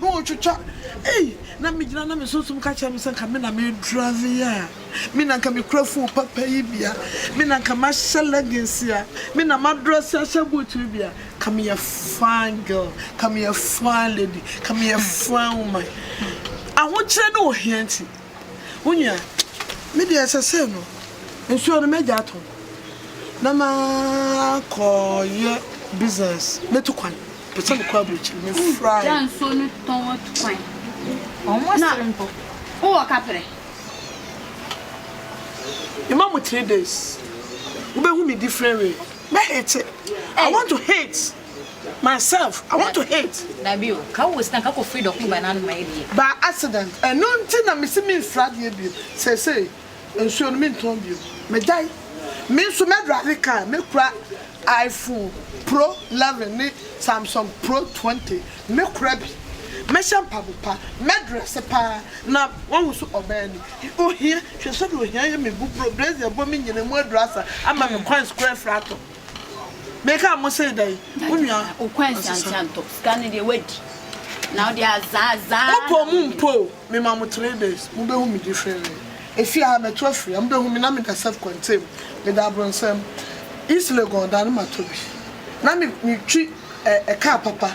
Na wɔtwitwa ei na me gyina na me sunsum ka kyerɛ me sɛ nka me na me drive yi a me na nka me kura phone papa yi bi a me na nka mahyɛ leggings yi a me na ma dress ahyɛ boot yi bi a ka me yɛ fine girl ka me yɛ fine lady ka me yɛ fine woman ahokyerɛ ne ohia nti Wo nua, me deɛ sɛsɛɛ no nsuo no mɛgya atɔ na makɔ yɛ business mɛtu kwan pɛ sɛ mekɔ aburokyiri me fry. Gya nsuo no tɔn atu kwan. Wɔn asere mpo. Wowɔ kaprɛ. Mema mo three days wobɛhu me different way mɛ hate I want to hate. myself I want to hate. Dabi o, ka wo sika nka kɔ firi dɔko ba n'ano ma yɛ bie. By accident, ɛno nti na mese mensuro adeɛ bio, seesei nsuo no mentɔn bio, magyae. Me nso mɛdrive car, mɛkura iPhone pro 11 ne Samsung pro 20, mɛkura bi, mɛhyɛ mpabopa, mɛdrɛse paa na wahu so ɔbaa ni. Ohia, hwɛ sɛdeɛ ohia yɛ me bu bro, brazier bɔ me nyina mu aduru asa ama me coins koraa afiri atɔ. Me ka mo se dɛn? Wo nua asesa. Opo mo mpo o, me ma mo three days, mo bɛ hu me differently. Efie ha mɛto afiri ha, mo bɛ hu me na me da self contain, me da abronsɛm. East Legon da no ma tɔ bi. Na me twi car papa,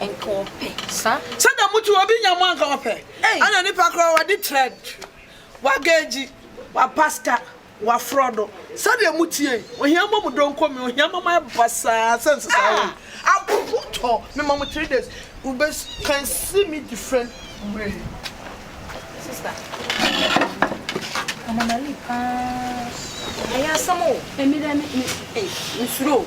anka ɔpɛ sa. Sɛdeɛ mo tu obi nya mo anka ɔpɛ ɛna nipa koraa wadi trɛd wagɛɛgyi wapasta wafrɔdo sɛdeɛ mo tie ohia mɔ mo donko me ohia mɔ mo ayɛ basaa sɛ nsesaa wei apopo tɔ me ma mo three days u bɛ can see me different way. Sister ɔmamali paa ɛyɛ asɛm o. Ɛmi dɛ me me me suro o.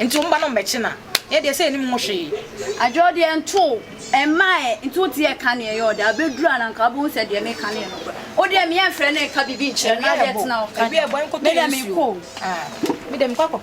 Nti wo mba no mbɛkye na yɛ deɛ sɛ yɛnim ho hwee. Adwoɔ deɛ ntoo mmaeɛ nti wo deɛ ka neɛ ɛyɛ ɔde abɛduru a na nka wobɛhu sɛ deɛ meka no yɛ nokorɛ. Wo deɛ meɛmfrɛ no nka biribi nkyerɛ no na adeɛ tena wo nka deɛ medeɛ mekɔ o.